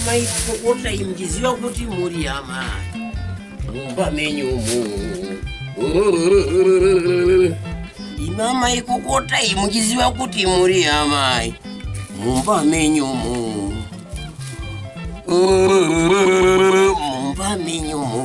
maipokota iyi muchiziva kuti muri hama mumba menyu umu ima maikokota iyi muchiziva kuti muri hamai mumba menyu umu mumba menyu umu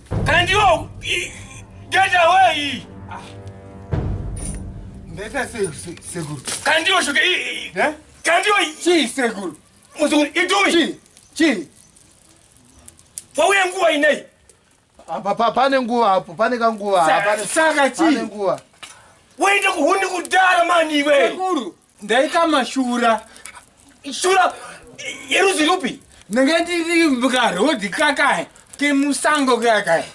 Can you get away? Ndeta seguru. Can you shoke? Eh? Can you? Chi seguru. Muzukuru itoi? Chi. Chi. Pauya nguva inei. Apa pa pane nguva hapo, pane kanguva. Saka chi. Pane nguva. Waenda kuhuni kudara mani iwe. Seguru. ndaita mashura shura yeruzi rupi ndanga ndiri karodhi kakae kemusango kakae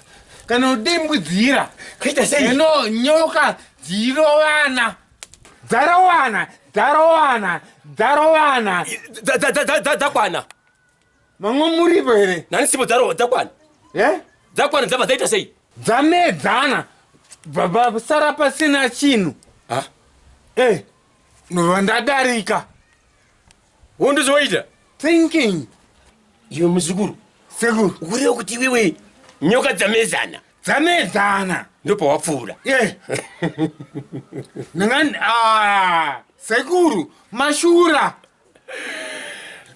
kanodimbudzira kuita sei ino nyoka dzirovana dzarowana dzarowana dzarowana Dza- dza- dza- dza- dza- dzakwana Mamwe muripo here? Nani sipo dzaro dzakwana. Eh? Dzakwana dzabva dzaita sei? Dzamedzana. Baba sara pasina chinhu. Ah. Eh. Ndadarika. Wondizoita. Thinking. Iwe muzukuru. Sekuru. Kureva kuti iwewe nyoka dzamezana. Dzamezana. Ndopa wapfuura. Eh. Nangani ah. Sekuru mashura.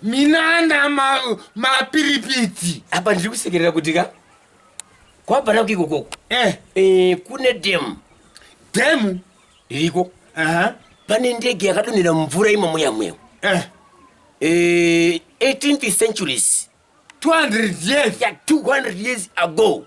minana mapiripiti ma apa ndiri kusekerera kuti ka kwabvana kuiko koko eh. eh, kune demu demu iriko uh -huh. pane ndege yakadonhera mumvura imomo yamwewo eh. eh, 18th centuries 200 years ya 200 years ago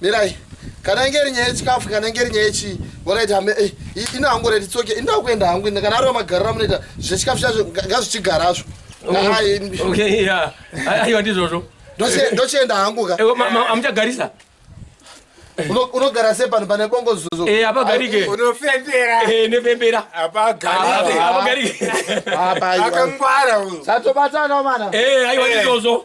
mirai kana inge iri nyaya yechikafu kana inge iri nyaya yechi wakaita hame eh, ino hangu rati tsoke inda kuenda hangu ina kana ariwa magariro amunoita zvechikafu chazvo ngazvichigarazvo aiwa ndizvozvo ndochienda hangu ka amuchagarisa unogara se pano pane bongo zuzo eh apagarike unofembera eh nefembera apagarike apagarike akangwara uyo satobatana mana eh aiwa ndizozo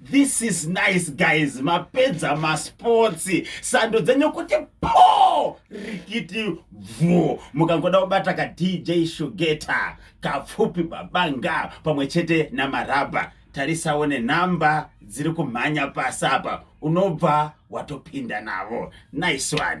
This is nice guys, mapedza masports, sando dzenyu kuti po rikiti bvu. Mukangoda kubata ka DJ Shugeta, kapfupi babanga pamwe chete na maraba. Tarisawo ne number dziri kumhanya pasi apa, unobva watopinda navo. Nice one.